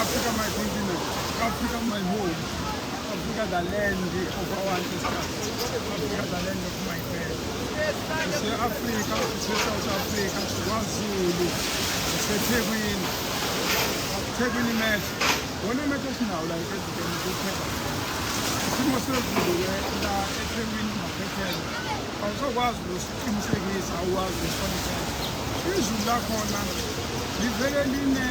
Africa my continent, Africa my home, Africa the land of our ancestors, Africa the land of my parents. Africa, South Africa, KwaZulu, Thekwini, Thekwini match. Wona match esinawo la esideni kuphela. Isimo sezulu ke la eThekwini maphethela. Awusokwazi ukuthi Qinisekisa uwazi ngehlonipho izulu lakhona livele line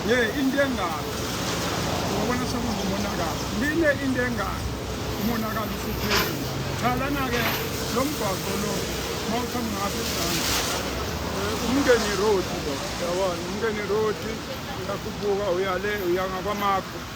ye into engalo ngobona sekungumonakalo line into engalo umonakalo usuphezulu cha lana-ke lo mgwaqo lo uma uthamba ngapha ezansi umngeni road lo yabona umngeni road uyakhuphuka uyale uyangakwamakho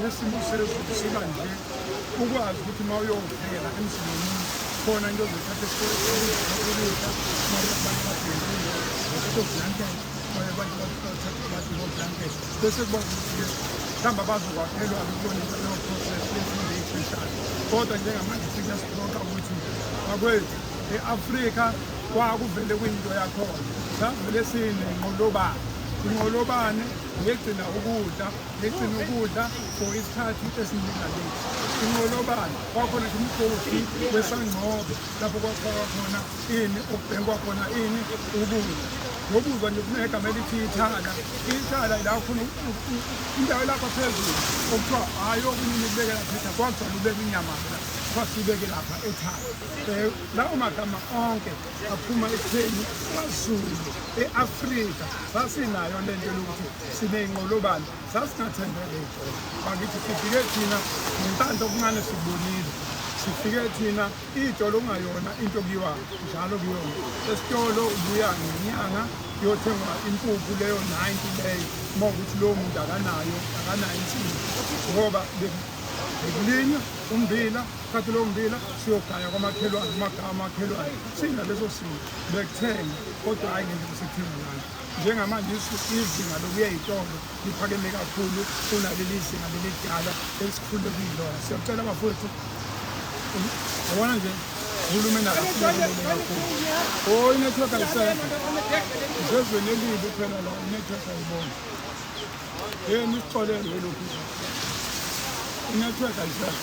nesimo sezulu sikanje ukwazi ukuthi uma uyovela emzini womuntu khona into ozothatha esikolekudla maablanketokuzothatha blanket bese kubona ukuthi mhlawumbe abazokwakhelwa akubona into leyo process yefundo eyisheshayo kodwa njengamanje siyasiloka ukuthi bakwethu e-afrika kwakuvele kuyinto yakhona savele sinenqolobane inqolobane yegcina ukudla ngigcina ukudla for isikhathi esiningaleti inqolobane kwakhona nje umgodi wesangcobe lapho kwafakwa khona ini okubhekwa khona ini ukudla ngokuzwa nje kunegama elithi ithala ithala la khona indawo lapha phezulu okuthiwa hhayi okunye nikubekela phetha kwakugcwala ubeka inyama la kwasibeke lapha ethala um lawo magama onke aphuma ekutheni kwazulu e-afrika sasinayo le nto lokuthi sineyinqolobane sasingathembele ijolo bakithi sifike thina nentando okuncane sikubonile sifike thina ijolo okungayona into kuyiwa njalo kuyona esitolo ubuya ngenyanga kuyothengwa impuphu leyo 90 leyo uma ukuthi lowo muntu akanayo akanayo insizi ngoba bekulinywa umbila khathi lowo mbila siyogaya kwamakhelwane amagama amakhelwane sina leso simo bekuthenga kodwa hhayi ngendlela sithenga ngayo njengamanje izinga lokuya itombo liphakeme kakhulu kunaleli zinga lelidala esikhule kuyilona siyacela bafowethu yabona nje uhulumeni akakhulu inetwork ayisekho isezweni elibi kuphela la inetwork ayibona yeni isixolelo elokhu inetwork ayisekho